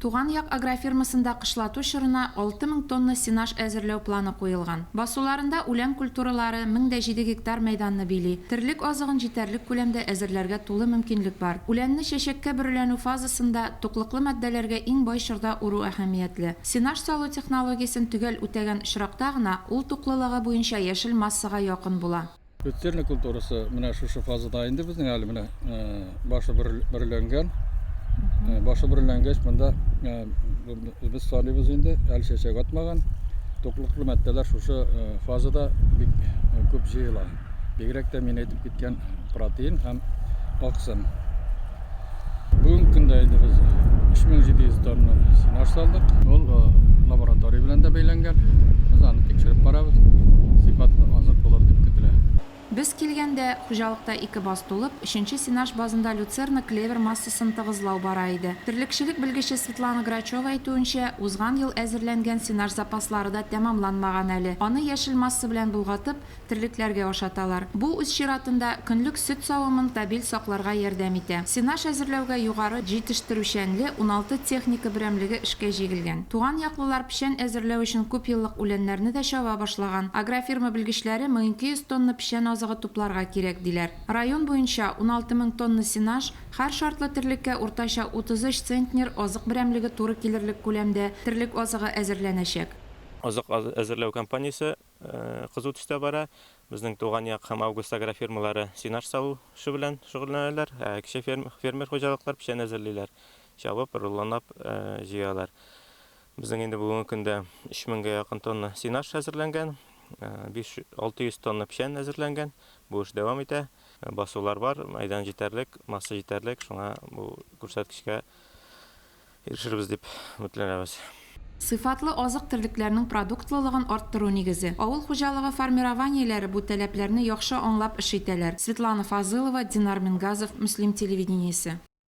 Туган як агрофирмасында кышлату чорына 6 мең тонна сенаж әзерләү планы куелган. Басуларында үлән культуралары мең дә җиде гектар мәйданны били. Терлек азыгын җитәрлек күләмдә әзерләргә тулы мөмкинлек бар. Үләнне чәчәккә бөреләнү фазасында, туклыклы матдәләргә иң бай чорда уру әһәмиятле. Сенаж салу технологиясен төгәл үтәгән очракта гына ул туклылыгы буенча яшел массага якын була. Люцерна культурасы менә шушы фазада инде безнең әле менә башы берләнгән. Башы берләнгәч монда без саныйбыз инде, әле чәчәк атмаган. Туклыклы матдәләр шушы фазада бик күп җыела. Бигрәк тә мин әйтеп киткән протеин һәм аксын. Бүгенге көндә инде без 3700 тонна сенаж салдык. Ул э, лаборатория белән дә бәйләнгән. Без аны тикшереп барабыз. Сыйфатлы азык булыр дип көтелә. Без килгәндә, хуҗалыкта ике баз тулып, өченче сенаж базында люцерна клевер массасын тыгызлау бара иде. Терлекчелек белгече Светлана Грачева әйтүенчә, узган ел әзерләнгән сенаж запаслары да тәмамланмаган әле. Аны яшел масса белән болгатып, терлекләргә ашаталар. Бу, үз чиратында, көнлек сөт савымын стабиль сакларга ярдәм итә. Сенаж әзерләүгә югары җитештерүчәнле уналты техника берәмлеге эшкә җигелгән. Туган яклылар печән әзерләү өчен күпьеллык үләннәрне дә чаба башлаган. Агрофирма белгечләре 1200 тонна печән азыгы тупларга кирәк, диләр. Район буенча 16 мең тонна сенаж, һәр шартлы терлеккә уртача 33 центнер азык берәмлеге туры килерлек күләмдә терлек азыгы әзерләнәчәк. Азык әзерләү кампаниясе кызу төстә бара. Безнең туган як һәм август агрофирмалары сенаж салу эше белән шөгыльләнәләр, ә кече фермер хуҗалыклар печән әзерлиләр, чабып, рулонлап җыялар. Безнең инде бүгенге көндә 3000 гә якын тонна сенаж әзерләнгән, 500-600 тонна печән әзерләнгән. Бу эш дәвам итә. Басулар бар, мәйдан җитәрлек, масса җитәрлек, шуңа бу күрсәткечкә Ирешербез дип өметләнәбез. Сыйфатлы азык терлекләрнең продуктлылыгын арттыру нигезе. Авыл хуҗалыгы формированиеләре бу таләпләрне яхшы аңлап эш итәләр, Светлана Фазылова, Динар Мингазов, Мөслим телевидениесе.